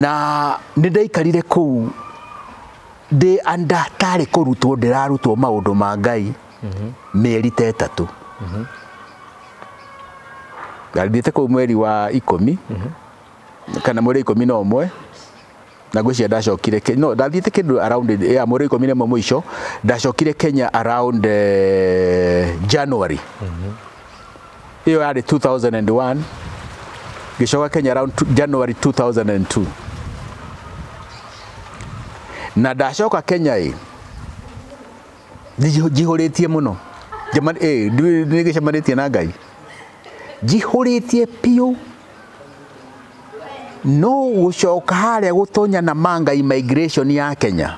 na nĩ ndaikarire kũu ndĩ anda tarĩ kũrutwo ndĩrarutwo maũndũ ma ngai mĩeri ta ĩtatũ ngathiĩte kũu mweri wa ikũmi kana mweri wa ikũmi na ũmwe na ngwĩciria ndacokire Ke- no ndathiĩte kĩndũ around ya mweri wa ikũmi na ĩmwe mũico ndacokire kenya around eh, january ĩyo yarĩ 2001 ngĩcoka Kenya around two- January 2002 na ndacoka Kenya ĩ njihu- njihũrĩtie mũno Njema- ĩ, ndiũĩ nĩ gĩcemanĩtie na Ngai njihũrĩtie biũ no gũcoka harĩa gũtonya na manga immigration ya Kenya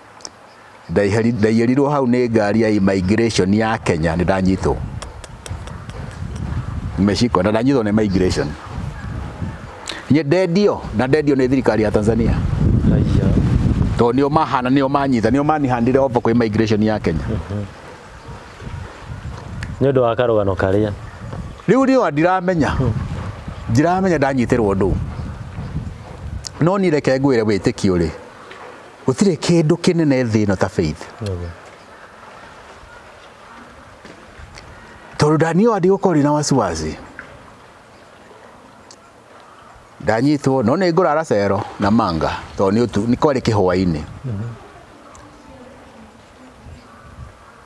Ndaiyĩrirwo hau nĩ ngari ya immigration ya Kenya nĩ ndanyitwo. Nimeshikwa na ndanyitwo na immigration. Niĩ ndendio na ndendio nĩ thirikari ya Tanzania. Haiya. Tondũ nĩo mahana nĩo manyita nĩo manihandire obo kwĩ immigration ya Kenya. Nĩ ũndũ wa karũgano karĩa. Rĩu nĩo ndiramenya. Ndiramenya ndanyitĩrwo ndũ. No niĩ reke ngwĩre wĩtĩkio rĩ, Gũtirĩ kĩndũ kĩnene thĩ ĩno ta faith. Tondũ Daniel andĩ gũkorwo rĩ na wasiwasi. Ndanyitwo no nĩ ngũrara cero na manga tondũ nĩ kwarĩ kĩhwainĩ.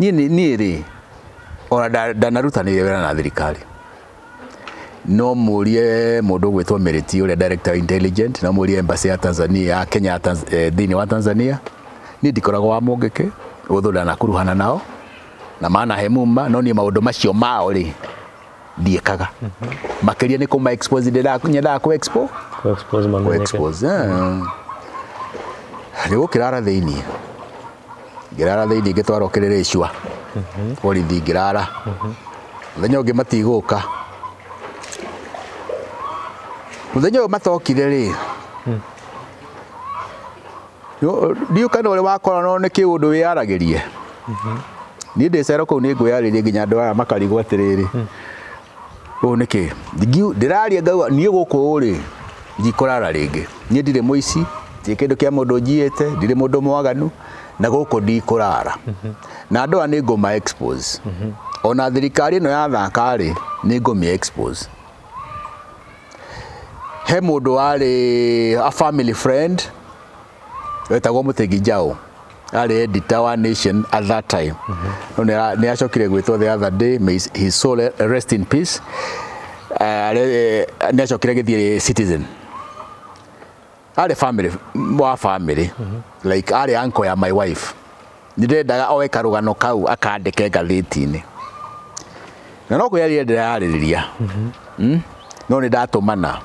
niĩ nĩ- niĩ rĩ ona nda- ndanarutanĩire wĩra na thirikari no mũrie mũndũ gwĩtwo Meriti ũrĩa director wa intelligent no mũrie embassy ya Tanzania ya Kenya ya Tanz- eh, thĩinĩ wa Tanzania niĩ ndikoragwo wa mũngĩkĩ ũthũ ndanakuruhana nao na manahe muma no niĩ maũndũ macio mao rĩ ndiĩkaga makĩria nĩ kũma expose ndĩra- nyendaga kũ expo Ku expose kũ mamenyeke. expose rĩu ũkĩrara thĩinĩ ngĩrara thĩinĩ ngĩtwarwo kĩrĩrĩ icua borithi ngĩrara mũthenya ũngĩ matigũka mũthenya ũyũ matokire rĩ ndiũ kana ũrĩa wakorana nĩ kĩu ũndũ wĩyaragĩrie mhm. niĩ ndĩ cero kũu nĩ ngwĩyarĩrie nginya andũ aya makarigwo atĩrĩrĩ hmm. ũũ nĩ kĩ ndĩraria ngauga niĩ gũkũ ũrĩ ndikũrara rĩngĩ niĩ ndirĩ mũici ndirĩ kĩndũ kĩa mũndũ njiyĩte ndirĩ mũndũ mwaganu na gũkũ ndikũrara mhm. na andũ aya nĩ ngũma expose mhm. ona thirikari ĩno ya thaka rĩ nĩ ngũmĩ expose he mũndũ warĩ a family friend wetagwo Mũtegi Njaũ arĩ editor wa Nation at that time no nĩ acokire gwĩtwo the other day may his soul rest in peace nĩ acokire gĩthiĩ Citizen arĩ family wa family like arĩ uncle ya my wife nĩndendaga oe karũgano kau akandĩke ngathĩti-inĩ na no kwĩyarĩria ndĩrayarĩrĩria Mm? no nĩ ndatũmana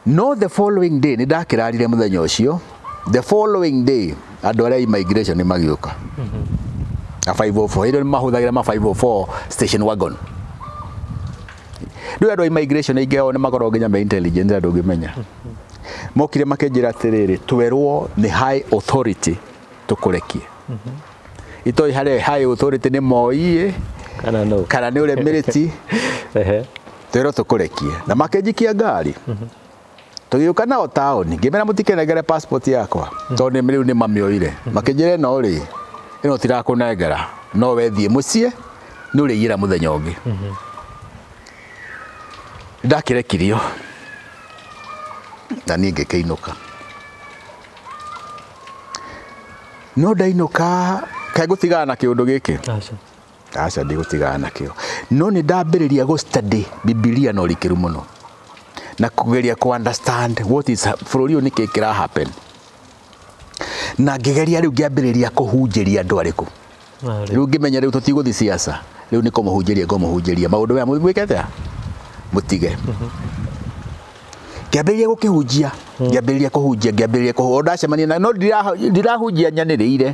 no the following day nĩ ndakĩrarire mũthenya ũcio the following day andũ arĩa immigration nĩ magĩũka na 504 hĩndĩ ĩyo nĩ mahũthagĩra ma 504 station wagon rĩu andũ a immigration aingĩ ao nĩ makoragwo nginya me intelligent andũ ngĩmenya mokire makĩnjĩra atĩrĩrĩ twerwo nĩ high authority tũkũrekie itoĩ harĩ high authority nĩ moiĩ kana no kana nĩ ũrĩa mĩrĩti Ehe. twerwo tũkũrekie na makĩnjikia ngari tũgĩũka nao taũni ngĩmera mũtikenengere passport yakwa hmm. tondũ rĩu nĩ mamĩoire hmm. makĩnjĩra ĩno rĩ ĩno tirakũnengera no wethiĩ mũciĩ nĩ ũrĩiyĩra mũthenya ũngĩ hmm. ndakĩrekirio na niĩ ngĩkĩinũka no ndainũka kaĩ gũtigana na kĩũndũ gĩkĩ aca ndigũtigana nakĩo no nĩ ndambĩrĩria gũ study bibilia na ũrikĩru mũno na kũgeria kũ understand what is bũrũri ũyũ nĩkĩ kĩra happen na ngĩgeria rĩu ngĩambĩrĩria kũhunjĩria andũ arĩkũ rĩu ngĩmenya rĩu tũtigũthiĩ siasa rĩu nĩ kũmũhunjĩria ngũmũhunjĩria maũndũ maya mũigwĩke atĩa mũtige ngĩambĩrĩria gũkĩhunjia ngĩambĩrĩria kũhunjia ngĩambĩrĩria kũhunjia ndacemania na no ndirahunjia nyanĩrĩire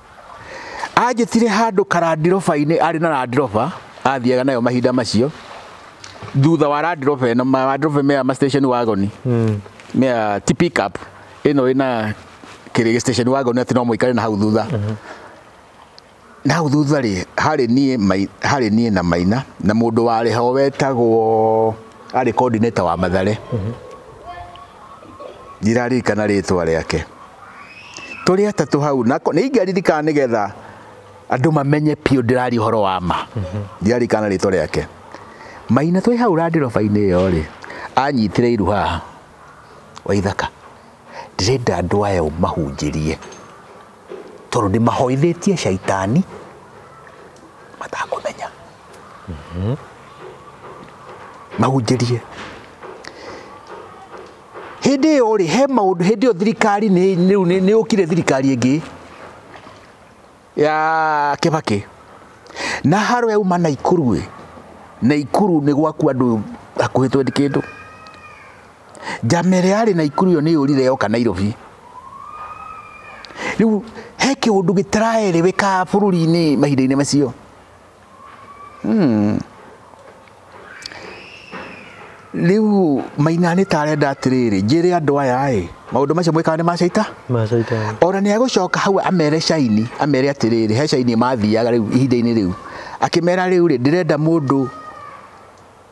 Anjĩtire handũ karandiroba-inĩ arĩ na randiroba athiaga nayo mahinda macio thutha wa randiroba ĩno randiroba mea ma station wagon hmm. mea ti pick up ĩno ĩna kĩrĩ station wagon atĩ no mũikare na hau thutha hmm. na hau thutha rĩ harĩ niĩ harĩ niĩ na maina na mũndũ warĩ ho wetagwo arĩ coordinator wa mathare mm -hmm. ndiraririkana rĩtwa rĩake tũrĩ atatũ hau na nĩ ingĩaririkana nĩ getha andũ mamenye biũ ndĩraria ũhoro wa ma ndiraririkana rĩtwa rĩake maina twĩ hau randiroba-inĩ ĩyo rĩ anyitire iru haha wa ithaka ndĩrenda andũ aya ũmahunjĩrie tondũ ndĩmahoithĩtie caitani matakũmenya mahunjĩrie hĩndĩ ĩyo rĩ he maũndũ hĩndĩ ĩyo thirikari rĩu nĩ yũkire thirikari ĩngĩ ya kĩbakĩ na haro yauma na ikuru ĩ na ikuru nĩ gwaku andũ hakuhĩ twendi kĩndũ njama ĩrĩa yarĩ na ikuru ĩyo nĩ yũrire yoka nairobi rĩu he kĩũndũ gĩtaraereweka bũrũri-inĩ mahinda-inĩ macio rĩu maina nĩ tarenda atĩrĩrĩ njĩre andũ aya ĩ maũndũ macio mwĩkaga nĩ macaita macaita ona nĩ egũcoka hau amere caini amere atĩrĩrĩ he caini mathiaga rĩu ihinda-inĩ rĩu akĩmera rĩu rĩ ndĩrenda mũndũ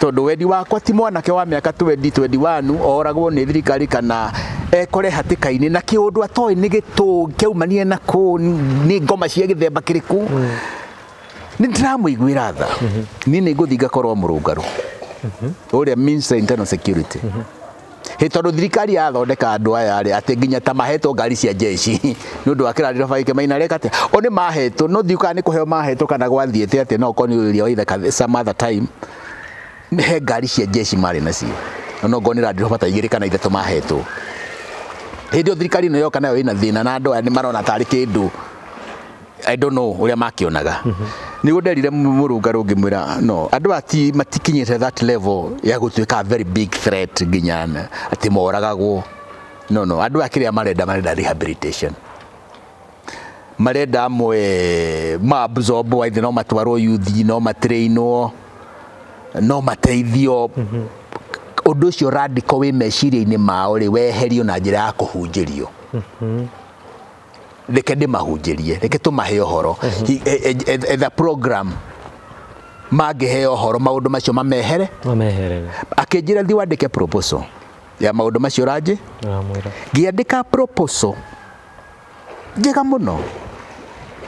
tondũ wendi wakwa ti mwanake wa mĩaka 20 21 oragwo nĩ thirikari kana ekore hatĩka-inĩ na kĩũndũ atoĩ nĩ gĩtũ kĩaumanire na kũ nĩ ngoma cia gĩthemba kĩrĩkũ nĩ ndĩramũiguĩra tha niĩ nĩ ngũthiĩ ngakorwo mũrũngarũ ũrĩa means internal security Hĩ tondũ thirikari yathondeka andũ aya rĩ atĩ nginya ta mahetwo ngari cia jeshi nĩ ũndũ wa kĩrarĩro baba gĩkĩ maina reka atĩa o nĩ mahetwo no thiũ kana nĩ kũheo mahetwo kana gwathiĩte atĩa no ũkorwo nĩ ũrĩa wa ithe some other time he ngari cia jeshi marĩ nacio ona ũkorwo nĩ randĩro bata igĩrĩ kana ithatũ mahetwo hĩndĩ ĩyo thirikari ĩno yoka nayo ĩna thĩna na andũ aya nĩ marona tarĩ kĩndũ I don't know uria makionaga mm -hmm. niguo nderire murungaru ngimwira no andu ati matikinyite that level ya gutuika very big threat nginya ati moragagwo no no andu akiria marenda marenda rehabilitation marenda amwe ma absorb wa no matwarwo youth no matrainwo no mateithio mm -hmm. undu ucio radical wi meciria-ini mao ri weherio na njira ya kuhunjirio mm -hmm. reke ndĩmahunjĩrie reke tũmahe ũhoro Hi- e- e- e- etha program mangĩhe ũhoro maũndũ macio mamehere mameherere akĩnjĩra thiĩ wandĩke proposal ya maũndũ macio ũranjĩ ramwĩra ngĩandĩka proposal njega mũno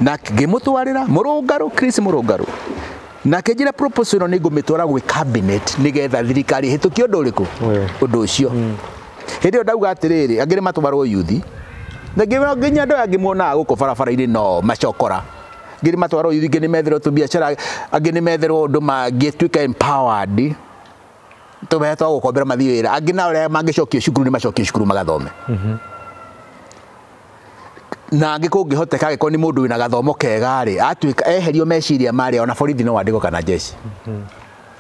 na ngĩmũtwarĩra mũrũngarũ Chris mũrũngarũ na akĩnjĩra proposal ĩno nĩ ngũmĩtwara gwĩ cabinet nĩgetha thirikari ĩhĩtũkie ũndũ ũrĩkũ Ũyũ. ũndũ ũcio Hĩndĩ ĩyo ndauga atĩrĩrĩ, angĩ nĩ matwarwo yuthi. Na nginya nginya andũ aya angĩ muonaga gũkũ barabara-inĩ no macokora. Angĩ nĩ matwarwo yuthi, angĩ nĩ metherwo tũbiacara, angĩ nĩ metherwo ũndũ mangĩtuĩka empowered, tũbeca twa gũkombera mathiĩ wĩra. Angĩ nao rĩrĩa mangĩcokio cukuru nĩ macokio cukuru magathome. Na angĩ kũngĩhoteka angĩkorwo nĩ mũndũ wĩna gathomo kega-rĩ, atuĩka eherio meciria marĩa ona borithi no andĩkwo kana njeci.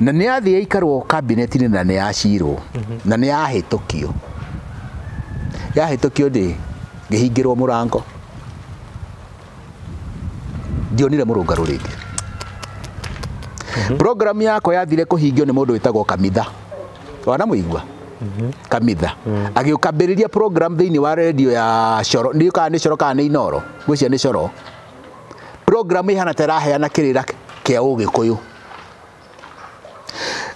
Na nĩ yathire ĩikarwo kabineti-inĩ na nĩ yacirwo na nĩ yahĩtũkio. Yahĩtũkio ndĩ ngĩhingĩrwo mũrango ndionire mũrũngarũ rĩngĩ. Program yakwa yathire kũhingio nĩ mũndũ wĩtagwo Kamitha, wanamũigua? Kamitha. Agĩũka ambĩrĩria program thĩinĩ wa redio ya Coro, ndiũĩ kana nĩ Coro kana nĩ Inoro, ngwĩciria nĩ Coro. programu ihana ta ĩraheana kĩrĩra kĩa ũgĩkũyũ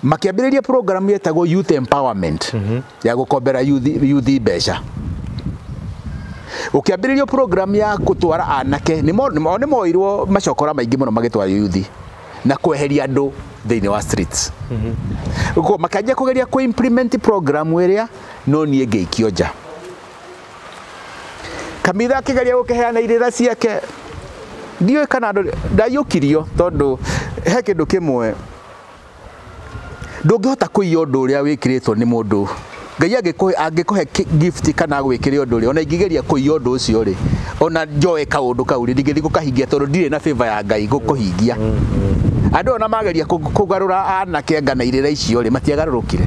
makĩambĩrĩria programu yetagwo youth empowerment mm -hmm. ya gũkombera yuthi mbeca ũkĩambĩrĩrio program ya gũtwara anake nĩ moirwo macokora maingĩ mũno magĩtwara yuthi na kweheria andũ thĩinĩ wa streets mm -hmm. makanjia kũgeria kũ implement program ĩrĩa no niĩ ngĩikio nja kamitha akĩgeria gũkĩheana irĩra ciake ndiũĩ kana andũ ndaiyũkirio tondũ he kĩndũ kĩmwe ndũngĩhota kũiya ũndũ ũrĩa wĩkĩrĩtwo nĩ mũndũ ngai angĩkũhe gift kana agwĩkĩre ũndũ rĩ ona ingĩgeria kũiya ũndũ ũcio rĩ ona njoe kaũndũ kau rĩ ndingĩthiĩ gũkahingia tondũ ndirĩ na favor ya ngai gũkũhingia andũ ona mageria kũgarũra anake ngana irĩra icio rĩ matiagarũrũkire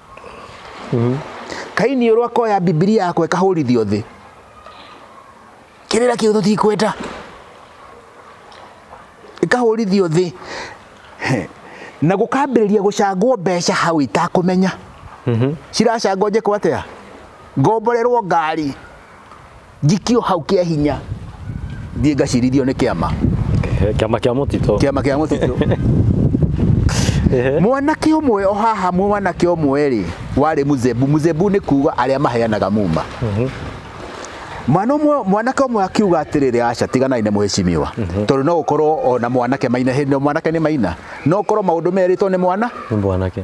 mm. kaini ũrwa koya bibilia yakwa ĩkahũrithio thĩ kĩrĩra kĩu tũtikwenda ĩkahũrithio thĩ na gũkambĩrĩria gũcangwo mbeca hau itakũmenya mm -hmm. ciracangwo njĩkwo atĩa ngomborerwo ngari njikio hau kĩa hinya thiĩ ngacirithio nĩ kĩama Ehe, kĩama kĩa mũtitũ kĩama kĩa mũtitũ Ehe. mwanake ũmwe o haha mwanake ũmwe rĩ warĩ muzebu muzebu nĩ kuga arĩa maheanaga muma mwana ũmwe mwanake ũmwe akiuga atĩrĩrĩ aca tiganai nĩ mũhĩcimiwa tondũ no gũkorwo ona mwanake maina hĩndĩ mwanake nĩ maina no gũkorwo maũndũ merĩtwo nĩ mwana nĩ mwanake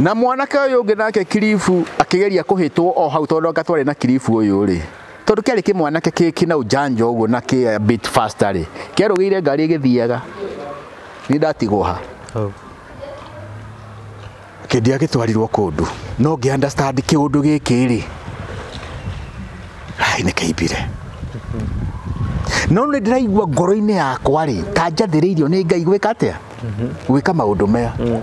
Na mwanake ũyũ ũngĩ nake kiribu akĩgeria kũhĩtwo o hau tondũ anga twarĩ na kiribu ũyũ rĩ tondũ kĩarĩ kĩmwanake kĩna ũjanja ũguo na kĩ a bit faster rĩ kĩarũgĩire ngari ĩgĩthiaga nĩ ndatigwo ha oh. kĩndĩa gĩtwarirwo kũndũ no ngĩ understand kĩũndũ gĩkĩ rĩ ai nĩ kĩimbire no nĩ ndĩraigua ngoro-inĩ yakwa rĩ ta njathĩrĩirio nĩ ngai gwĩka atĩa mhm. gwĩka maũndũ maya mm.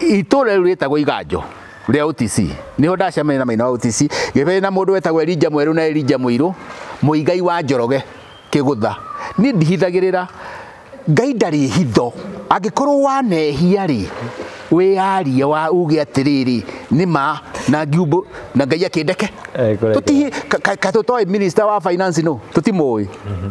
itũra rĩu rĩtagwo iganjo rĩa OTC niho ndacemania na maina wa OTC gĩbere na mũndũ wetagwo Elija mwerũ na Elija mũirũ mũigai wa njoroge kĩgũtha niĩ ndihithagĩrĩra ngai ndarĩ hitho angĩkorwo wanehia rĩ wĩyarie wa uge atĩrĩrĩ nĩ ma na ngiumbũ na ngai akĩndeke tũtihi ka tũtoĩ minister wa finance no tũtimũĩ mhm.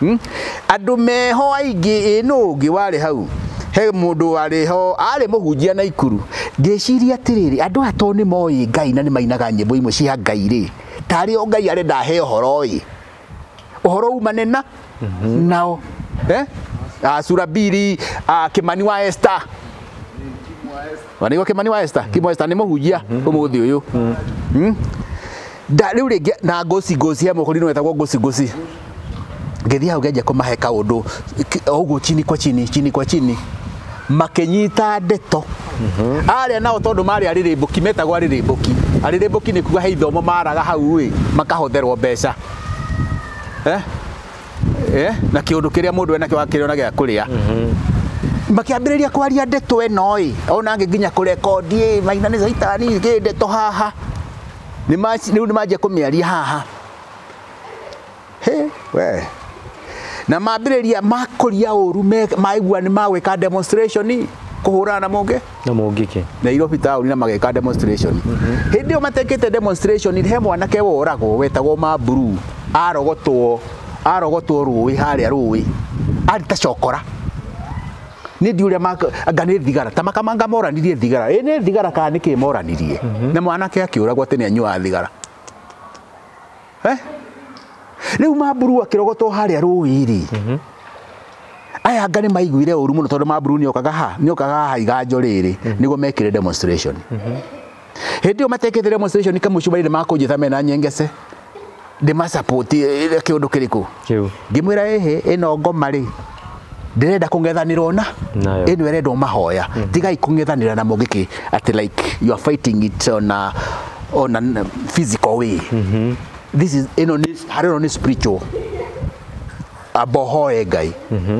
hmm? andũ meho aingĩ ĩ nũ ũngĩ warĩ hau he mundu warĩ ho arĩ mũhunjia na ikuru ngĩciria atĩrĩrĩ andũ aya tondũ nĩ moĩ ngai na nĩ mainaga nyĩmbo imwe cia ngai rĩ tarĩ o ngai arenda ahe ũhoro ĩ ũhoro umane na mhm. nao eh? uh, ah, surabiri uh, ah, kimani wa esta wanigua kimani wa Esther kimo Esther ni muhunjia umuthi uyu Mm. nda riu ringi na ngoci ngoci he muhuri no wetagwo ngoci ngoci ngĩthiĩ hau ngenjia kũmahe kaũndũ ki- o ũguo chini kwa chini chini kwa chini makĩnyita ndeto arĩa nao tondũ marĩ arĩrĩmbũki metagwo arĩrĩmbũki arĩrĩmbũki nĩ kuga he ithomo maraga hau ĩ makahotherwo mbeca eh? eh, na kä å ndå kä rä a må ndå enakio akĩrä ona gä a kå rä a makiambĩrĩria kwaria ndeto ĩno ĩ ona ngĩ nginya kũrekondi ĩ maina nĩ caitani kĩ ndeto haha nĩ ma- rĩu nĩ manjia kũmĩaria haha Hĩ, we na mambĩrĩria makũria ũru me- maigua nĩ magwĩka demonstration kũhũrana na mũngĩ na mũngĩke Nairobi taũni na mageka demonstration hĩndĩ ĩyo matekĩte demonstration he mwanake woragwo wetagwo Mamburu arogotwo arogotwo rũĩ harĩa rũĩ arĩ ta cokora nĩ ndiũrĩa anga nĩ thigara ta makamanga moranirie thigara ĩ nĩ thigara kana nĩkĩ moranirie na mwanake akĩũragwo atĩ nĩ anyuaga thigara Eh? rĩu mamburu akĩrogotwo harĩa rũĩ-rĩ aya anga nĩ maiguire ũru mũno tondũ mamburu nĩ okaga ha nĩ okaga haha iganjo rĩrĩ nĩguo mekĩre demonstration hĩndĩ ĩyo matekĩte demonstration kamũcumarĩ nĩ makũnjĩta mena nyengece ndĩmasupport eh, kĩũndũ kĩrĩkũ Kĩu. ngĩmwĩra ĩhĩ ĩno ngoma rĩ ndirenda kung'ethanirwo na Nayo. ĩno ĩrendwo mahoya tigai kung'ethanĩra na mũngĩ kĩ atĩ like you are fighting it on a, on a physical way this is ĩno nĩ harĩ ĩno nĩ spiritual amba ũhoe ngai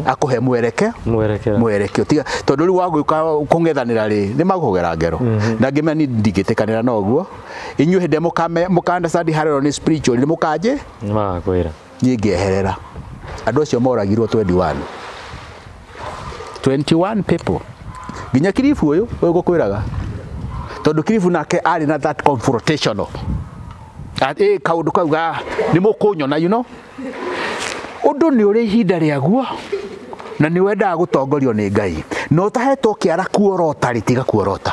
akũhe mwereke Mwerekera. mwerekio tiga tondũ rĩu wagũka kũng'ethanĩra rĩ nĩ magũkũgera ngero na ngĩmenya niĩ ndingĩtĩkanĩra na ũguo inyuĩ hĩndĩ ĩrĩa mũkame- mũka understand harĩ ĩno nĩ spiritual nĩ mũkanjĩ Nĩ magakwĩra. niĩ ngĩeherera andũ acio moragirwo 21 21 people nginya kiribu ũyũ ũyũ ngũkwĩraga tondũ kiribu nake arĩ na that confrontational ĩ kaũndũ kau ga nĩ mũkũnyona you know ũndũ nĩ ũrĩ ihinda rĩaguo na nĩ wendaga gũtongorio nĩ ngai na ũtahetwo kĩara kuorota rĩtiga kuorota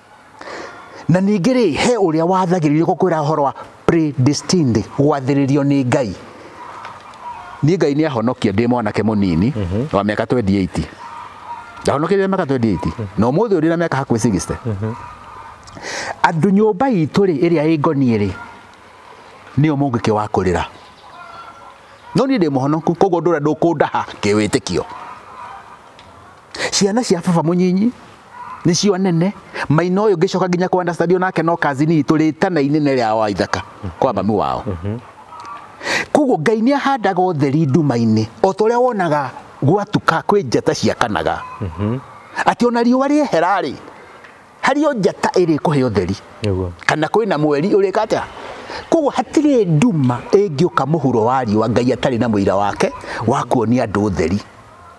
na ningĩ rĩ he ũrĩa wathagĩrĩrio gũkwĩra ũhoro wa predestined gwathĩrĩrio nĩ ngai niĩ ngai nĩ ahonokia ndĩ mwanake mũnini mhm. wa mĩaka 28 ndahonokire mĩaka 28 mhm. na ũmũthĩ ũrĩ na mĩaka hakuhĩ 60 mhm. andũ nyũmba itũ rĩ ĩrĩa ĩ ngoniĩ rĩ nĩo mũngĩkĩ wa kũrĩra no niĩ ndĩ mũhonoku koguo ndũra ndũkũndaha kĩwĩtĩkio ciana cia baba mũnyinyi nĩcio nene maina ũyũ ngĩcoka nginya kwa understand onake no kazini itũ rĩtana inene rĩa wa ithaka kwa mami wao koguo ngai nĩ ahandaga ũtheri nduma-inĩ o ta ũrĩa wonaga gwatuka kwĩ njata ciakanaga atĩ ona riũa rĩehera-rĩ harĩ o njata ĩrĩ kũhe ũtheri Nĩguo. kana kwĩ na mweri ũrĩka atĩa koguo hatirĩ nduma ĩngĩũka mũhuro wa riũa ngai atarĩ na mũira wake wa kuonia andũ ũtheri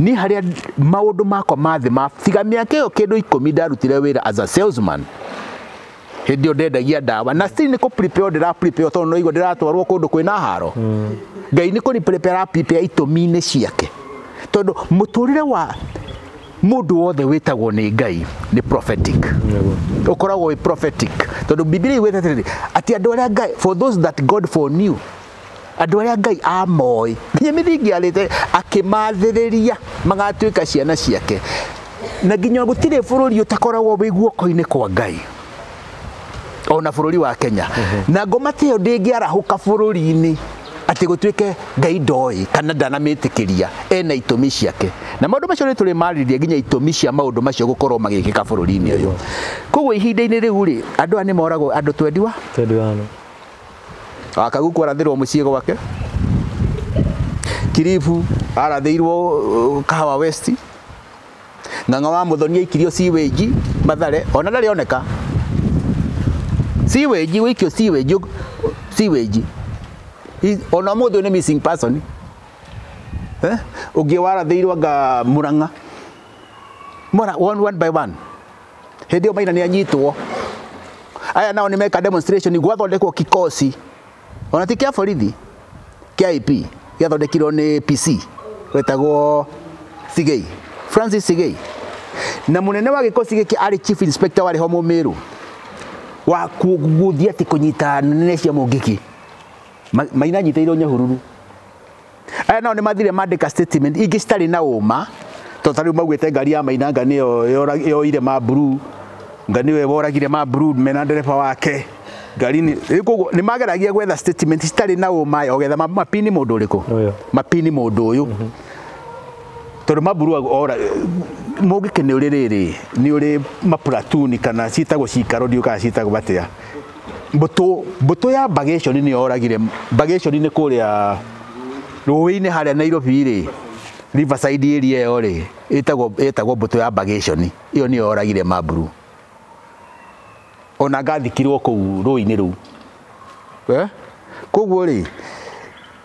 niĩ harĩa maũndũ makwa ma thĩ ma tiga mĩaka ĩyo kĩndũ ikũmi ndarutire wĩra as a salesman hĩndĩ ĩyo ndendagia ndawa na still nĩ kũ prepare ndĩra prepare tondũ noigua ndĩratwarwo kũndũ kwĩna haro hmm. ngai nĩ kũ prepare ara prepare itũmi-inĩ ciake tondũ mũtũrĩre wa mundu wothe witagwo ni ngai ni prophetic ukoragwo wi prophetic tondu biblia igwete atiri ati andu aria ngai for those that god for new Andũ arĩa Ngai amoĩ nginya mĩthingi ya thĩ akĩmathĩrĩria magatuĩka ciana ciake, na nginya gũtirĩ bũrũri ũtakoragwo wĩ guoko-inĩ kwa Ngai ona bũrũri wa Kenya na ngoma ta ĩyo ndĩngĩarahũka bũrũri-inĩ atĩ gũtuĩke Ngai ndoĩ kana ndanamĩtĩkĩria ena itũmi ciake na maũndũ macio nĩ tũrĩ marĩria nginya itũmi cia maũndũ macio gũkorwo magĩkĩka bũrũri-inĩ ũyũ koguo ihinda-inĩ rĩu rĩ andũ aya nĩ moragwo andũ twendiwa twendiwa Wakagu kwarathirwo muciĩ gwake Kiribu arathĩirwo Kahawa West Ng'ang'a wa Mũthoni aikirio siwage Mathare ona ndarĩ oneka siwage gũikio siwage siwage ona mũthĩ nĩ missing person eh ũngĩ warathĩirwo anga Murang'a one by one hĩndĩ ĩyo maina nĩ anyitwo aya nao nĩ meka demonstration gwathondekwo kikosi ona ti kĩa borithi kĩa IP gĩathondekirwo nĩ PC wetagwo Thigei Francis Thigei na munene wa gikosi giki ari chief inspector wari ho mumiru wa kuguthia ti kunyita nene cia mungiki maina nyitairwo nyahururu aya nao nĩ mathire mandĩka statement ingĩ citarĩ na ũma to ta rĩu maugĩte ngari ya mainanga nĩyo yoire ma blue nga nĩwe woragire ma blue mena ndereba wake ngari nĩ koguo nĩ mageragia gwetha statement citarĩ na ũma ogetha mapini mũndũ ũrĩkũ mapini mũndũ ũyũ mhm. tondũ ma blue ora mũngĩkene ũrĩ rĩrĩ nĩ ũrĩ mapuratuni kana ciĩtagwo cikaro ndiũkaga ciĩtagwo batĩa mbũtũ mbũtũ ya bagation nĩ yoragire bagation nĩ kũrĩa rũĩ-inĩ harĩa Nairobi rĩ Riverside area ĩyo rĩ ĩtagwo ĩtagwo mbũtũ ya bagation ĩyo nĩ yoragire mamburu ona ngathikirwo kũu rũĩ-inĩ rũu eh? koguo rĩ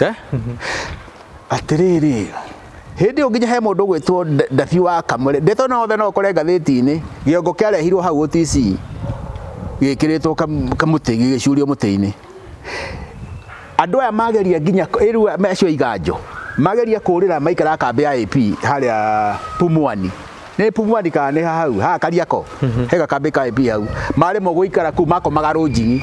Eh? atĩrĩrĩ hĩndĩ ĩyo nginya he mũndũ gwĩtwo ndabi wa kamũre ndeto no othe no ũkore ngathĩti-inĩ gĩongo kĩarehirwo hau OTC gĩkĩrĩtwo kamũtĩ gĩgĩcurio mũtĩ-inĩ andũ aya mageria nginya rĩu acio iganjo mageria kũrĩra maikara kambĩ ya AP harĩa Pumwani nä pumwani kana nä hau ha kariako mhm. he gakambä ka AP hau marä mo gå ikara kå makomaga rå njigi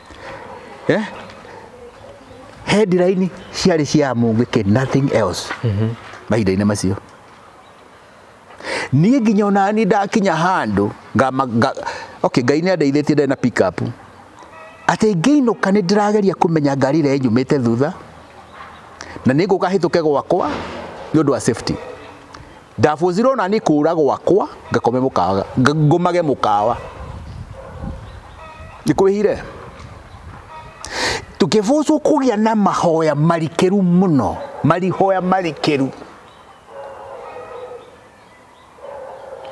eh? headline ciarĩ cia mũngĩke nothing else mahinda-inĩ macio niĩ nginya ona niĩ ndakinya handũ ngama- nga- okay ngai nĩ andeithĩtie ndĩ na pick up atĩ ngĩinũka nĩ ndĩrageria kũmenya ngari ĩrĩa ĩnyumĩte thutha na nĩ ngũka hĩtũke gwakwa nĩ ũndũ wa safety Ndabũthirwo na niĩ kũũra gwakwa ngakome mũkawa ngomage mũkawa nĩ kwĩhire tũkĩbũcwo kũgĩa na mahoya marikĩru mũno marihoya marikĩru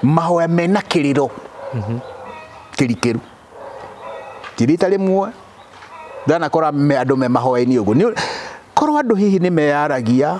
mahoya mena kĩrĩro mhm. kĩrikĩru kĩrita rĩmwe ndanakora andũ me mahoya-inĩ ũguo korwo andũ hihi nĩ meyaragia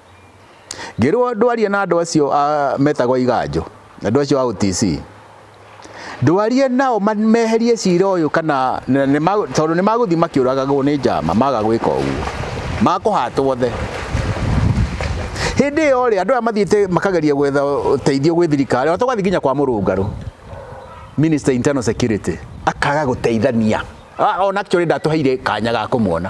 ngĩrwo ndwarie na andũ acio ah, metagwo iganjũ andũ acio a OTC ndwarie nao ma- meherie cira ũyũ kana na- nĩ ma- tondũ nĩ magũthiĩ makĩũragagwo nĩ njama maga gwĩka ũguo makũhatwo othe hĩndĩ ĩyo rĩ andũ aya mathiĩte makageria gwetha ũteithio gwĩ thirikari ona tũgathiĩ nginya kwa mũrũngarũ minister internal security akaga gũteithania Ah, ona actually ndatũheire kanya ga kũmuona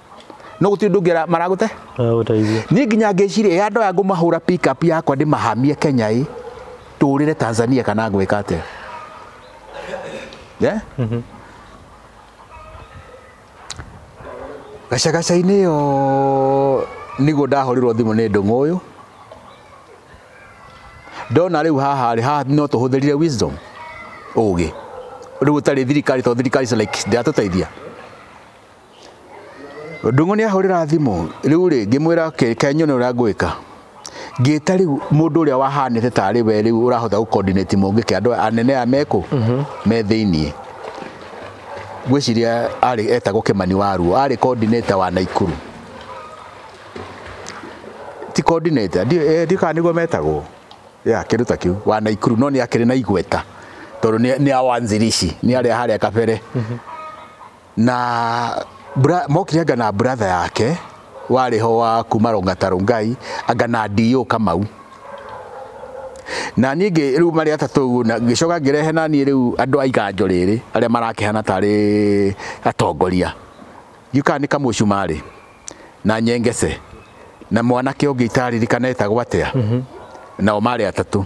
no gũtirĩ ũndũ ũngĩ ara- maragũte Aragũteithia. niĩ nginya ngĩciria ya ndoya ngũmahũra pick up yakwa ndĩmahamie kenya ĩ tũũrĩre tanzania kana ngwĩka atĩa yeah? gacagaca-inĩ ĩyo nĩguo ndahũrĩrwo thimũ nĩ ndũng'ũ ũyũ ndona rĩu haha rĩ haha no tũhũthĩrire wisdom ũgĩ rĩu ũtarĩ thirikari to thirikari is like ndĩratũteithia Ndung'ũ nĩ ahũrĩra thimũ rĩu rĩ ngĩmwĩra reke nyone ũrĩa ngwĩka ngĩta rĩu mũndũ ũrĩa wahanĩte tarĩ we rĩu ũrahota gũcoordinate mũngĩke andũ anene aya mekũ me thĩinĩ ngwĩciria arĩ etagwo Kĩmani Waruo arĩ coordinator wa Naikuru ti coordinator ndiũĩ kana nĩguo metagwo ya kĩndũ ta kĩu wa Naikuru no nĩ akĩrĩ na igweta tondũ nĩ awanzirishi nĩ arĩa harĩa kabere na mokire anga na buratha yake warĩ ho wa kuma Rongata Rongai anga na DO Kamau na niĩ ngĩ rĩu marĩ atatũ ũguo na ngĩcoka ngĩrehe na niĩ rĩu andũ a iganjo rĩrĩ arĩa marakĩhana tarĩ atongoria gĩũkaga nĩ kamũcumarĩ na nyengece na mwanake ũngĩ itaririkaneta gwatĩa nao marĩ atatũ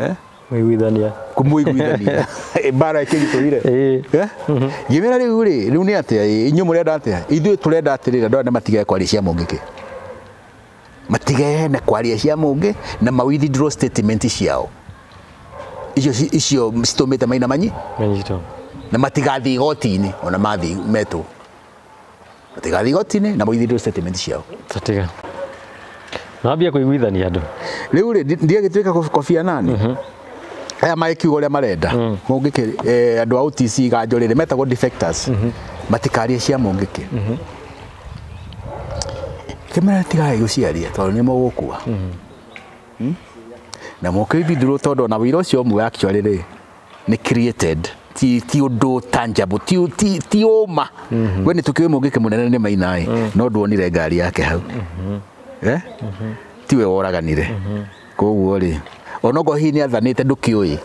eh? Mwĩguithania. kumuiguithania mbara ikirituire Eh. ngimera riu ri riu ni atia inyu murenda atia ithuĩ turenda atirira ndona matige kwaria cia mũngĩ ki matige na kwaria cia mũngĩ na ma withdraw statement ciao icio ci- icio citumite maina manyi Manyitwo. na matigathiĩ igoti-inĩ ona mathiĩ metwo Matigathiĩ igoti-inĩ na moigithio statement ciao. Tatiga. Nambia kũiguithania andũ. Rĩu rĩ, ndi- ndiagĩtuĩka kũ- kobia nani. Aya magĩkiuga ũrĩa marenda. Mũngĩkĩ eh, andũ a OTC ganjo rĩrĩ metagwo defectors. Matikarie cia mũngĩkĩ. Kĩmera tigai gũciaria tondũ nĩ mũgũkua. Na mũkĩbindurwo tondũ ona wĩra ũcio ũmwe actually rĩ nĩ created ti ti undu tangible ti ti ti uma mm-hmm. we ni tukiwe mungike munene ni maina mm. Mm-hmm. no nduonire ngari yake hau mm-hmm. eh mm-hmm. ti we woraganire mm-hmm. koguo ri onogo hi ni athanite ndukiui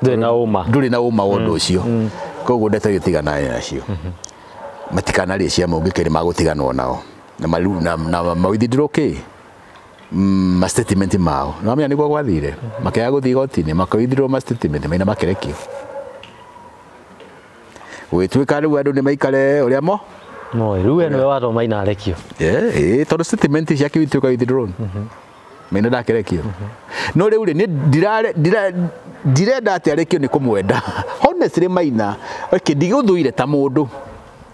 nduri na uma nduri na uma wondu mm. ucio mm. koguo ndeto itigana nacio mm-hmm. matikana ri cia mungike ni magutiganwo nao na maru na, na mawithindiro ki mm, ma statement mao nĩwamenya nĩguo gwathire makĩaga gũthiĩ igoti-inĩ makoithirwo ma statement maina makerekio gũgĩtuĩka rĩu andũ nĩ maikare ũrĩa mo moĩ rĩu we nĩwe watwo maina arekio Eh, eh, tondũ statement cia kiu ituĩka withdrawn maina ndakerekio no rĩu rĩ nĩ ndirare- ndira- ndirenda atĩ arekio nĩ kũmwenda honestly maina okay, ndigũthũire ta mũndũ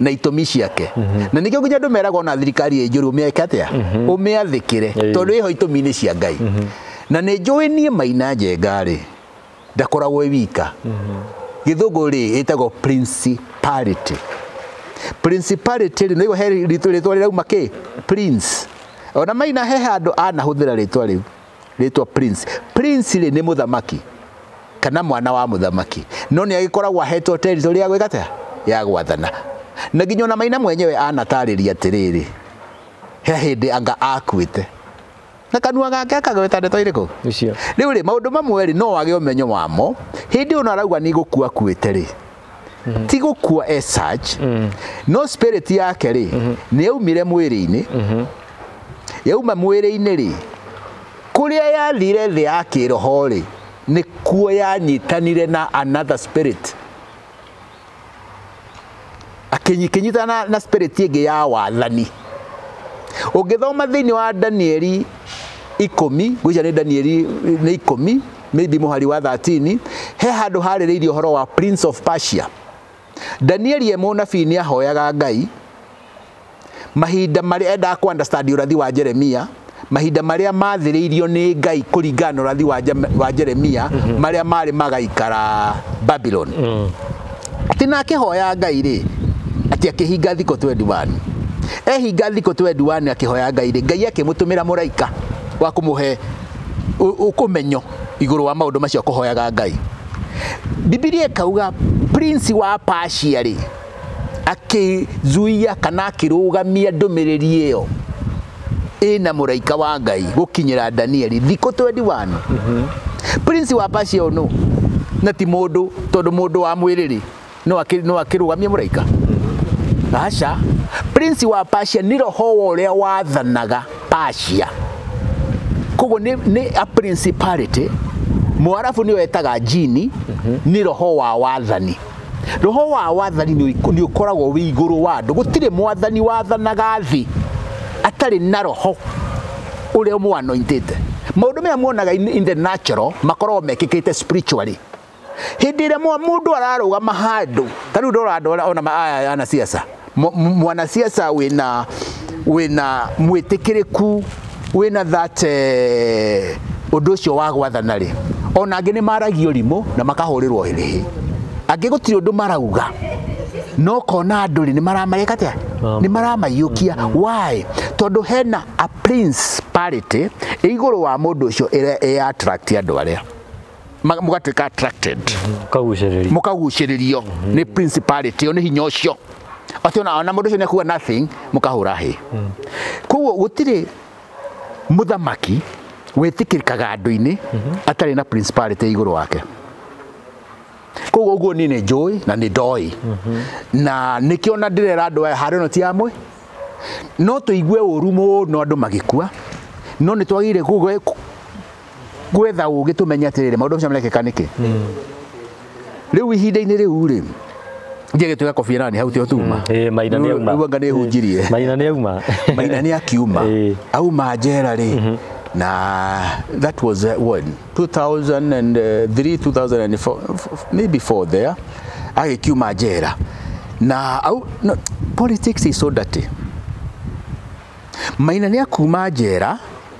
na itũmi ciake mhm. na nĩkĩo nginya andũ meraga ona thirikari ĩ njũru ũmĩeke atĩa mhm. ũmĩathĩkĩre tondũ ĩho itũmi-inĩ cia ngai mhm. na nĩ njũĩ niĩ maina njenga rĩ ndakoragwo ĩ wika gĩthũngũ rĩ ĩtagwo principality principality rĩ nĩguo he rĩtwa rĩrauma kĩ prince ona maina he handũ anahũthĩra rĩtwa rĩu rĩtwa prince prince rĩ nĩ mũthamaki kana mwana wa mũthamaki no nĩ agĩkoragwo ahetwo territory ya gwĩka atĩa ya gwathana na nginya ona maina mwenyewe anatarĩria atĩrĩrĩ he hĩndĩ anga akuĩte na kanua gake akagweta ndeto irĩkũ rĩu rĩ maũndũ mamwe rĩ no wage ũmenyo wamo hĩndĩ ona arauga nĩ gũkua kuĩte rĩ mm-hmm. ti gũkua e search mm-hmm. no spirit yake rĩ mm-hmm. nĩ yaumire mwĩrĩ-inĩ mm-hmm. yauma mwĩrĩ-inĩ rĩ kũrĩa yathire thĩ ya kĩroho rĩ nĩ kuo yanyitanire na another spirit akĩnyitana na, na spirit ĩngĩ ya wathani ũngĩthoma thĩinĩ wa danieli ikũmi gwĩcia nĩ danieli nĩ ikũmi maybe mũhari wa 13 he handũ harĩrĩirie ũhoro wa prince of Persia Danieli e mũnabii nĩ ahoyaga Ngai mahinda marĩa endaga kũ understand ũrathi wa Jeremia mahinda marĩa mathĩrĩirio nĩ Ngai kũringana na ũrathi wa Jeremia mm -hmm. marĩa marĩ magaikara Babylon mm -hmm. atĩ na akĩhoya Ngai rĩ atĩ akĩhinga thikũ 21 ehinga thikũ 21 akĩhoya Ngai rĩ Ngai akĩmũtũmĩra mũraika wa kũmũhe ũkũmenyo igũrũ wa maũndũ macio kũhoyaga Ngai. Bibilia ĩkauga prince wa Persia rĩ akĩzuia kana akĩrũgamia ndũmĩrĩri ĩyo ĩna mũraika wa Ngai gũkinyĩra Danieli thikũ 21. Mm -hmm. Prince wa Persia ũyũ na ti mũndũ tondũ mũndũ wa mwĩrĩ rĩ no akĩ- no akĩrũgamie mũraika aca prince wa Persia nĩ roho wa ũrĩa wathanaga Persia koguo nĩ nĩ a principality mwarabu nĩyo etaga jini nĩ roho wa wathani roho wa wathani nĩ ũik- nĩ ũkoragwo wĩ igũrũ wa andũ gũtirĩ mwathani wathanaga thĩ atarĩ na roho ũrĩa mũanointĩte maũndũ maya muonaga in, in the natural makoragwo mekĩkĩte spiritually hĩndĩ ĩrĩa mũndũ ararũgama handũ ta rĩu ndora andũ arĩa ona aya anasiasa mwanasiasa wĩna wĩna mwĩtĩkĩrĩku wĩna that eh, ũndũ ũcio wa gwathana rĩ ona angĩ nĩ maragio rimũ na makahũrĩrwo hĩrĩhĩ angĩ gũtirĩ ũndũ marauga no kona andũ rĩ nĩ maramareka atĩa nĩ maramaiyũkia why tondũ hena a principality ĩ igũrũ wa mũndũ ũcio ĩrĩa ĩ attract andũ arĩa ma- mũgatuĩka attracted kagucĩrĩria mũkagucĩrĩrio nĩ principality ĩyo nĩ hinya ũcio acio na ona mũndũ ũcio nĩakuga nothing mũkahũra hĩ koguo gũtirĩ mũthamaki wĩtĩkĩrĩkaga andũ-inĩ atarĩ na principality igũrũ wake koguo ũguo niĩ nĩ njũĩ na nĩ ndoĩ na nĩkĩo ona ndĩrera andũ aya harĩ ĩno ti amwe no tũigue ũru mũno andũ magĩkua no nĩ twagĩrĩire gũgĩ- gwetha ũgĩ tũmenye atĩrĩrĩ maũndũ macio marekĩka nĩkĩ rĩu ihinda-inĩ rĩu rĩ nje gĩtuĩka kobia nani hau tio tuma Eh, Maina nĩ auma. anga nĩ hunjirie Maina nĩ auma. maina nĩ akiuma Eh. auma njera rĩ na that was uh, what 2003 2004 maybe 4 there agĩkiuma njera na au no, politics is so dirty maina nĩ akuma njera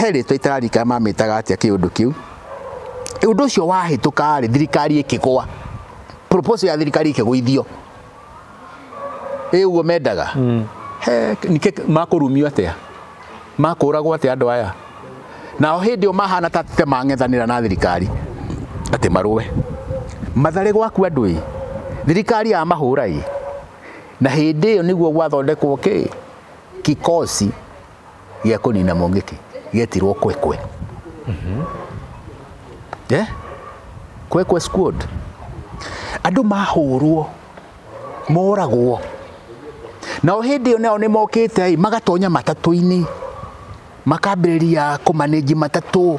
he rĩtwa itararika mamĩtaga atĩa kĩũndũ kĩu ũndũ ũcio wahĩtũka rĩ thirikari ĩkĩgwa proposal ya thirikari ĩkĩgũithio ĩ ũguo mendaga mm. he nĩkĩ makũrumio atĩa makũragwo atĩa andũ aya nao hĩndĩ ĩyo mahana ta te mang'ethanĩra na thirikari atĩ marũe matharĩ gwaku andũ ĩ thirikari ya mahũra ĩ na hĩndĩ ĩyo nĩguo gwathondekwo kĩ kikosi gĩa kũnina mũngĩki gĩetirwo kwekwe Eh? kwekwe squad andũ mahũrwo moragwo nao hĩndĩ ĩyo nao nĩ mokĩte ĩ magatonya matatũ-inĩ makambĩrĩria kũmanĩnji matatũ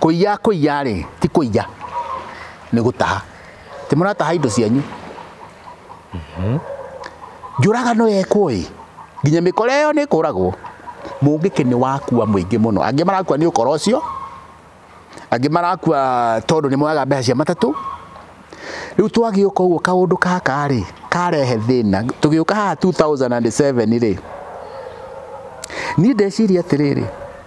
Kũiya kũiya rĩ, ti kũiya, nĩ gũtaha. Ti mũrataha indo cianyu. Njũragano yekwo ĩ, nginya mĩkora ĩyo nĩ ĩkũragwo. Mũngĩkĩ nĩ wakua mũingĩ mũno. Angĩ marakua nĩ ũkora ũcio, angĩ marakua tondũ nĩ moyaga mbeca cia matatũ. Rĩu twagĩũka ũguo kaũndũ gaka rĩ, karehe thĩna. Tũgĩũka haha 2007 rĩ, niĩ ndeciria atĩrĩrĩ,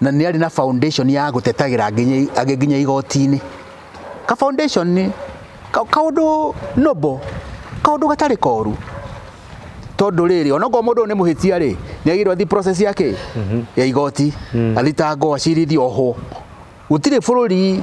na nĩ arĩ na foundation ya gũtetagĩra nginya igoti-inĩ ka foundation kaũndũ noble kaũndũ gatarĩ koru tondũ rĩrĩ onokorwo mũndũ nĩ mũhĩtia rĩ nĩ agĩrĩirwo athi process ya kĩ mhm. ya igoti mm. athitangwo acirithio ohwo gũtirĩ bũrũri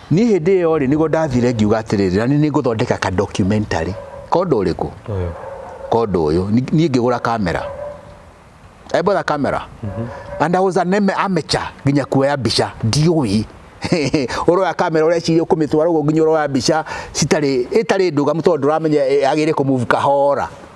niĩ hĩndĩ ĩyo rĩ nĩguo ndathire ngiuga atĩrĩrĩ na nĩ ngũthondeka ka documentary kondo ũrĩkũ kondo ũyũ niĩ ngĩgũra kamera I bought a camera mm -hmm. and I was an amateur nginya kuoya mbica ndiũĩ uroya kamera ureciria kumitwara uguo nginya uroya mbica citari itari ndugamu tondu nduramenya eh, agire ku move kahora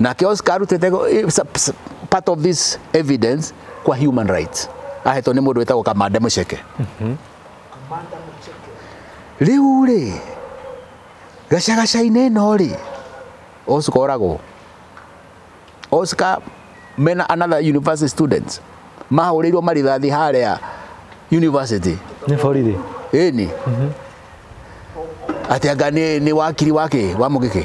nake Oscar arutĩte part of this evidence kwa human rights ahetwo nĩ mũndũ wĩtagwo kamande mũceke mhm. rĩu rĩ gacagaca-inĩ ĩno rĩ Oscar oragwo Oscar mena another university students mahũrĩirwo marithathi harĩa university nĩ borithi ĩni mhm. atĩ anga nĩ wakiri wake wa mũgĩkĩ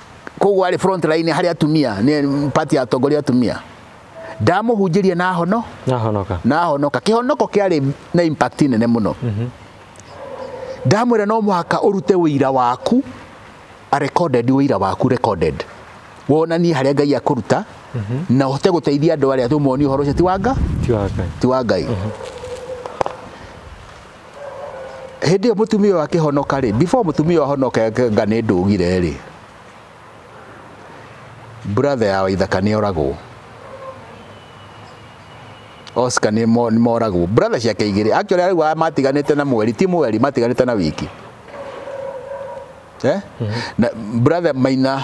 koguo arĩ front line harĩ atumia nĩ party ya atongoria atumia ndamũhunjĩria na hono na honoka na honoka kĩhonoko kĩarĩ na impact nene mũno mhm. ndamwĩra no mũhaka ũrute wĩira waku a recorded wĩira waku recorded wonanie harĩa ngai akũruta mhm. na ũhote gũteithia andũ arĩa tũmonie ũhoro ũcio ti wa nga ti wa ngai mhm. hĩndĩ ĩyo mũtumia ũyũ akĩhonoka rĩ before mũtumia ũyũ ahonoke nga nĩ ndũgire rĩ brother ya waithaka nĩ oragwo Oscar nĩ mo- nĩ moragwo brother ciake igĩrĩ actually rĩu aya matiganĩte na mweri ti mweri matiganĩte na wiki eh? na brother maina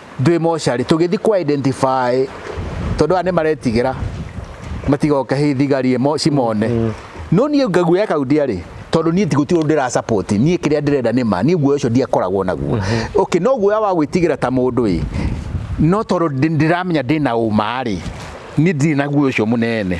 ndwĩ mocarĩ tũgĩthi kwa identify tondũ aya nĩ maretigĩra matigoke hĩ thigari ĩmo cimone mm. no niĩ ngaguoya kau ndiarĩ tondũ niĩ tigũti ũndũ ndĩra support niĩ kĩrĩa ndĩrenda nĩ ma niĩ guoya ũcio ndiakoragwo naguo mm-hmm. okay no guoya wa gwĩtigĩra ta mũndũ ĩ no tondũ ndĩramenya ndĩna ũma rĩ niĩ ndirĩ naguo ũcio mũnene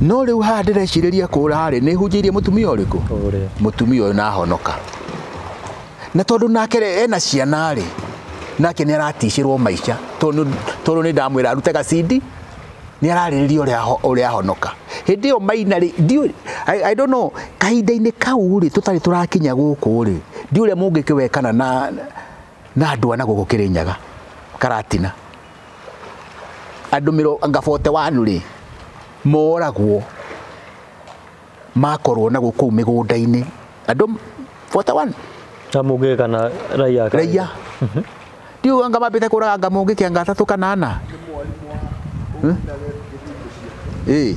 no rĩu haha ndĩrecirĩria kũra harĩ nĩ hunjĩirie mũtumia ũrĩkũ mũtumia ũyũ nahonoka na tondũ nake ena ciana rĩ nake nĩ araticĩrwo maica tondũ nĩ ndamwĩra arute gacindi nĩ ararĩrĩria ũrĩa ahonoka hĩndĩ ĩyo maina rĩ ndiũ I don't know kahinda-inĩ kau rĩ tũtarĩ tũrakinya gũkũ rĩ ndiũ ũrĩa mũngĩkĩwekana na na ndwa na gũkũ Kĩrĩnyaga Karatina andũ mĩrongo ngabote wanu rĩ moragwo makorwo na gũkũ mĩgũnda-inĩ andũ 41 na mũngĩ kana raiya raiya ndiũ anga mambĩte kũraga anga mũngĩ kĩanga atatũ kana ana ĩ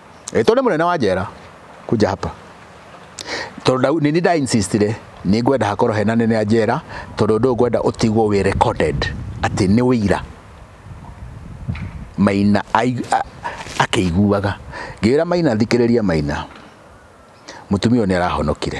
Ĩtwo nĩ mũnene wa njera kuja hapa tondũ nĩ nda insistire nĩ ngwenda hakorwo hena nene ya njera tondũ ndũ ngwenda ũtigwo wĩ recorded atĩ nĩ wĩira Maina akĩiguaga ngĩra Maina thikĩrĩria Maina mũtumia ũyũ nĩ arahonokire.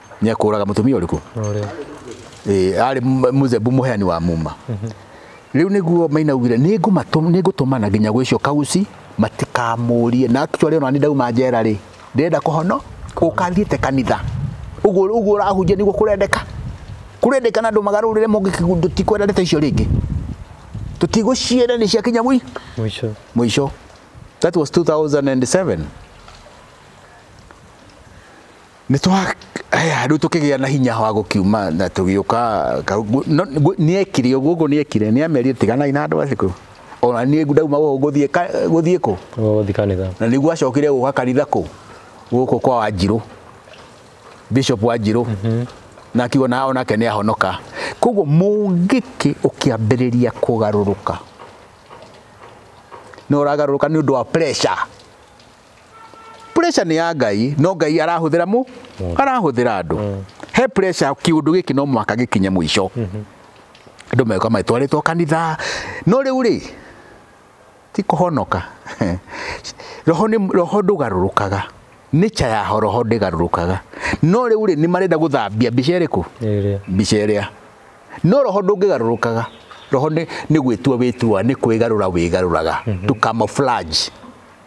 nĩekũraga mũtumia ũrĩkũ Ũrĩa. Eh, arĩ m- mũzebu mũheani wa muma rĩu nĩguo maina augire "Nĩngũmatũ- nĩngũtũmana nginya gwĩ icio kauci matikamũrie na actually ona nĩ ndauma njera rĩ ndĩrenda kũhono ũkathiĩte kanitha ũguo ũguo ũrahunjia nĩguo kũrendeka kũrendeka na andũ magarũrĩre mũngĩkĩgundũ tikwenda ndeto icio rĩngĩ tũtigũcienda nĩ ciakinya mũi Mũico. mũico that was 2007 nĩ twa haya rĩu tũkĩgĩa na hinya wa gũkiuma na tũgĩũka nĩekire ũguo ũguo nĩekire nĩamerire tiganai na andũ acio kũu ona niĩ ndauma gũkũ gũthiĩ gũthiĩ kũ gũthiĩ kanitha na nĩguo acokire gũka kanitha kũ gũkũ kwa wanjirũ bishop wanjirũ mhm. na akiuga na onake nĩ ahonoka koguo mũngĩkĩ ũkĩambĩrĩria kũgarũrũka no ũragarũrũka nĩ ũndũ wa pressure pressure nĩ ya ngai no ngai arahũthĩra mũ mm. arahũthĩra andũ mm. he pressure kiundu giki no mwaka gikinye mwisho mm-hmm. andu meka maitwaritwo kanitha no riu ri ti kuhonoka roho ni roho ndugarurukaga nature ya roho ndigarurukaga no riu ri ni marenda guthambia mbica iriku mbica iria no roho ndungigarurukaga roho ni gwitua witua ni kwigarura wigaruraga mm-hmm. to camouflage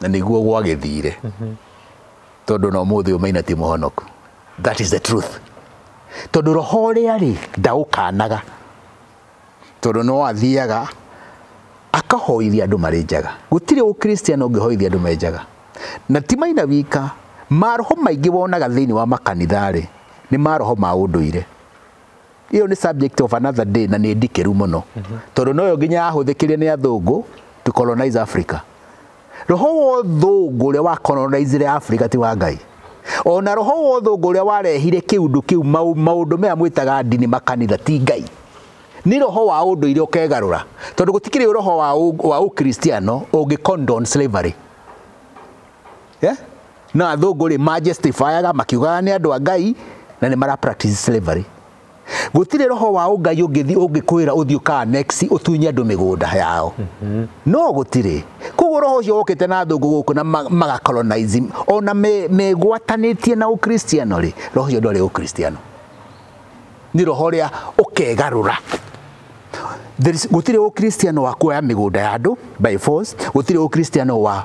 na nĩguo gwagĩthire mhm. tondũ na ũmũthĩ ũmaina ti mũhonoku that is the truth tondũ roho ũrĩa rĩ ndaũkanaga tondũ no athiaga akahoithia andũ marĩ njaga gũtirĩ ũkristiano ũngĩhoithia andũ me njaga na ti maina wika maroho maingĩ wonaga thĩinĩ wa makanitha rĩ nĩ maroho ma ũndũire iyo ni subject of another day na ni ndikeru muno tondu noyo nginya yahũthĩkire ni athungu to colonize Africa roho wa ũthũngũ ũrĩa wa colonizire Africa ti wa Ngai ona roho wa ũthũngũ ũrĩa warehire kiundu kiu maundu maya mwitaga ndini makanitha ti Ngai ni roho wa ũndũire ũkegarũra tondu gũtikĩrĩ roho wa wa ũkristiano ũngĩ condone slavery yeah? na athũngũ rĩ majustifyaga makiugaga nĩ andũ a ngai na nĩ mara practice slavery gũtirĩ roho wa ũngai ũngĩthi ũngĩkwĩra ũthiĩ ũkaa next ũtunye andũ mĩgũnda yao mm-hmm. no gũtirĩ koguo roho ũcio wokĩte na thũngũ gũkũ na magacolonize ona megwatanĩtie na ũkristiano rĩ roho ũcio ndwarĩ ũkristiano nĩ roho ũrĩa ũkegarũra gũtirĩ ũkristiano wa kuoya mĩgũnda ya andũ by force gũtirĩ ũkristiano wa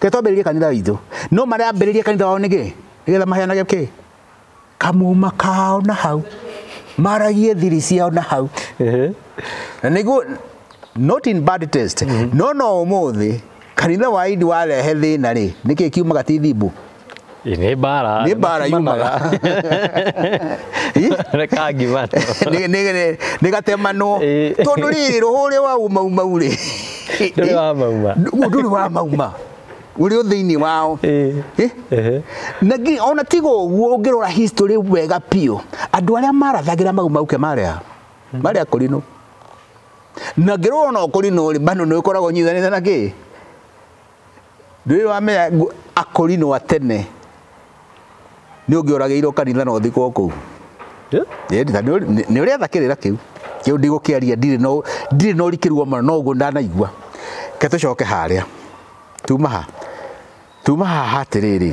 Ke twambĩrĩrie kanitha witũ. No marĩa ambĩrĩrie kanitha wao nĩkĩ? Nĩgetha maheanage kĩ? Kamuma kao na hau. Maragie thiri ciao na hau. Na nĩguo not in bad taste. Mm-hmm. No no ũmũthĩ kanitha wa idi warehe thĩna rĩ, nĩkĩ kiumaga ti thimbu? Ĩ, nĩ mbara nĩ mbara yumaga reka ngima Nĩ- nĩ- nĩ- nĩ gatemanwo Ĩ. tondũ rĩrĩ rũhũrĩ wa umaumau rĩ ndũrĩ wa mauma Ndũ- ndũrĩ wa mauma ũrĩ o thĩinĩ wao Ĩ, Ĩ? ehe. na ngi- ona tiga ũguo ũngĩrora history wega biũ andũ arĩa marathagĩra mau mauke marĩa marĩa kũrinũ na ngĩrora ona kũrinũ rĩ bano nĩ ũkoragwo nyithanĩte na kĩ Ndũĩ wamenya akorinwo atene nĩ ũngĩoragĩirwo kanitha na ũthikwo kũu. Nĩ ũrĩa thakĩrĩra kĩu kĩu ndigũkĩaria ndirĩ na ũrikĩru wa mũno no ũguo ndanaigua. Reke tũcoke harĩa tuma ha tuma haha atĩrĩrĩ.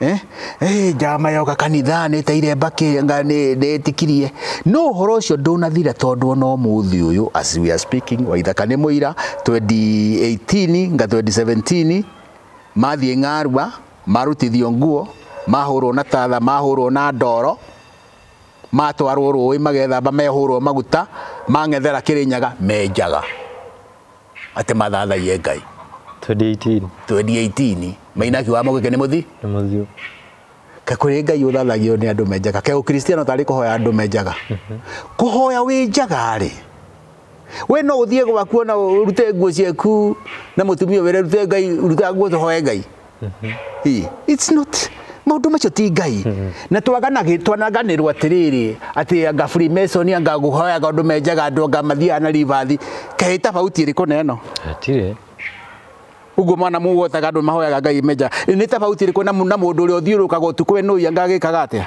eh? Hey, eh, njama yoka kanitha nä teire mbakä nä tikirie no å horo å cio ndå nathira tondå ona å må thä å yå as we are speaking waithaka nä må ira 2018 nga 2017 mathiä ng'arua marutithio nguo mahurwo na tatha mahurwo na ndoro matwarwo rũĩ magethamba mehurwo maguta mang'ethera kĩrĩnyaga menjaga atĩ mathathaie ngai 2018 2018 mainaki wa mũgĩke nĩ mũthi nĩ mũthiũ ke kũrĩ ngai ũthathagio nĩ andũ menjaga ke ũkristiano tarĩ kũhoya andũ menjaga kũhoya wĩ njaga rĩ we no ũthiĩ gwaku ona ũrute nguo ciaku na mũtumia wĩre rute ngai ruta nguo tũhoe ngai Ĩ, it's not maũndũ macio ti ngai na twaganagĩ- twanaganĩrwo atĩrĩrĩ atĩ anga freemason anga ngũhoyaga ũndũ menjaga andũ anga mathiaga na ribathi kaĩ tabauti ĩrĩkũ na ĩno Hatirĩ. uguo mwana mũgwotaga andũ mahoyaga ngai menja nĩ tabauti ĩrĩkũ na mũ- na mũndũ ũrĩa ũthiũrũkaga ũtukũ we nũi anga agĩkaga atĩa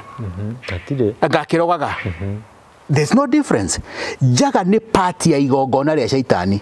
Hatirĩ. anga akĩrogaga there's no difference njaga nĩ part ya igongona rĩa caitani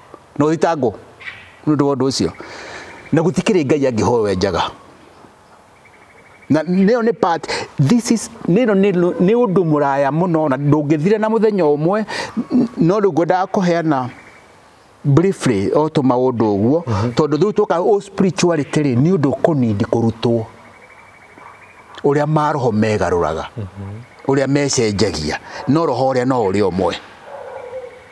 na ũthitangwo nĩ ũndũ wa ũndũ ũcio na gũtikĩrĩ ngai angĩhoyo enjaga na nĩyo nĩ part this is nĩno nĩ ũndũ mũraya mũno na ndũngĩthire na mũthenya ũmwe no rĩu ngwendaga kũheana briefly o tũ maũndũ ũguo mhm. tondũ rĩu tũka o spirituality rĩ nĩ ũndũ kũnindi kũrutwo ũrĩa maroho megarũraga mhm. ũrĩa mecenjagia no roho ũrĩa no ũrĩa ũmwe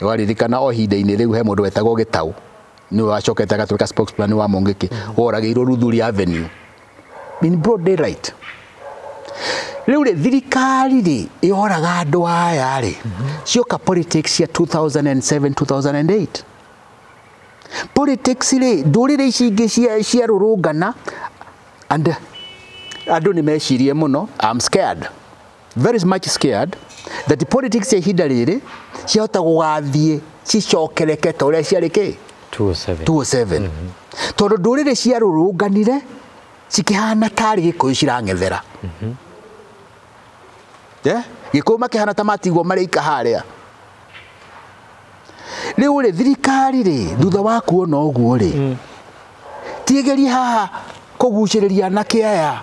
ũraririkana o ihinda-inĩ rĩu he mũndũ wetagwo gĩtaũ nĩwe wacokete agatuĩka spokesman wa mũngĩkĩ woragĩirwo ruthuri avenue in broad daylight rĩu rĩ thirikari rĩ yoraga andũ aya rĩ cioka politics cia 2007 2008 politics rĩ ndũrĩrĩ ici ingĩ cia- ciarũrũngana and andũ nĩ mecirie mũno I'm scared very much scared that politics cia ihinda rĩrĩ ciahota gũgathiĩ cicokereke ta ũrĩa ciarĩ kĩ 207 207 mm -hmm. tondũ ndũrĩrĩ ciarũrũnganire cikĩhana tarĩ gĩkũyũ cirang'ethera mm -hmm. yeah? gĩkũyũ makĩhana ta matigwo marĩ ika harĩa rĩu rĩ thirikari rĩ thutha wa kuona ũguo rĩ mm. tigerie haha kũgucĩrĩria anake aya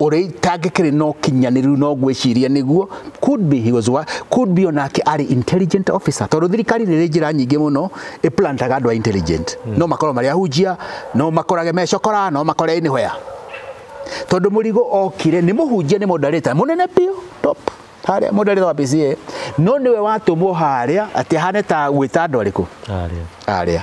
ũrĩa itangĩkĩrĩ na ũkinyanĩru no gwĩciria nĩguo could be he was what could be onake arĩ intelligent officer tondũ thirikari nĩ ĩrĩ njĩra nyingĩ mũno ĩplantaga andũ a intelligent hmm. no makorwo marĩ ahunjia no makorage mecokora no makore nĩ hoya tondũ mũrigo okire nĩ mũhunjia nĩ mũndarĩta mũnene biũ top harĩa mũndarĩta wa PCA no nĩwe watũmwo harĩa atĩ ahane ta gwĩta andũ arĩkũ arĩa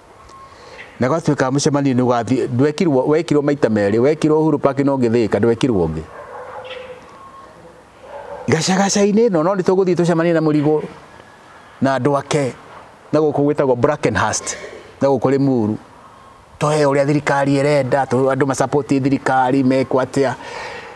na gwatuĩka mũcemanio nĩ ũgathiĩ ndwekirwo wekirwo maita merĩ wekirwo Uhuru Park na ũngĩ Thĩka ndwekirwo ũngĩ gacagaca-inĩ ĩno no nĩ tũgũthiĩ tũcemanie na mũrigo na andũ ake na gũkũ gwĩtagwo Brackenhurst na gũkũ Limuru tũhe ũrĩa thirikari ĩrenda andũ macapoti thirikari mekwo atĩa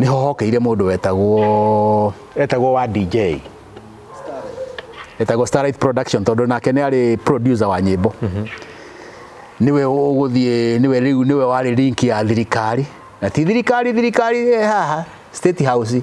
nĩ hohokeire mũndũ wetagwo etagwo wa DJ etagwo Starlight Production tondũ nake nĩ arĩ producer wa nyĩmbo niwe ũgũthiĩ niwe rĩu niwe warĩ link ya thirikari na ti thirikari thirikari ĩ haha state house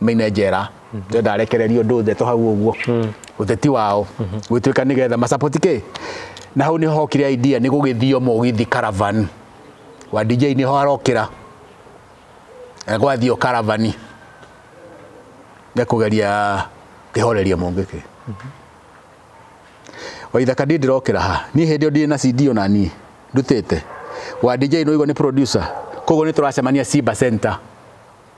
maine njera ndenda arekererio ndũthe to hau ũguo ũteti wao gwĩtuĩka nĩgetha macapoti kĩ na hau nĩho hokire idea nĩ gũgĩthio mũgithi caravan wa DJ nĩho arokĩra Eh, gwathio caravani nĩ kũgeria kĩhoreria mũngĩ kĩ waithaka ndiĩ ndĩrokĩra ha niĩ hĩndĩ ĩyo ndirĩ na CD ona niĩ ndutĩte wa DJ nũigwa nĩ producer koguo nĩ tũracemania Simba Center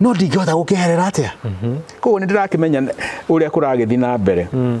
no ndingĩhota gũkeherera atĩa mhm. koguo nĩ ndĩrakĩmenya ũrĩa kũragĩthiĩ na mbere mm.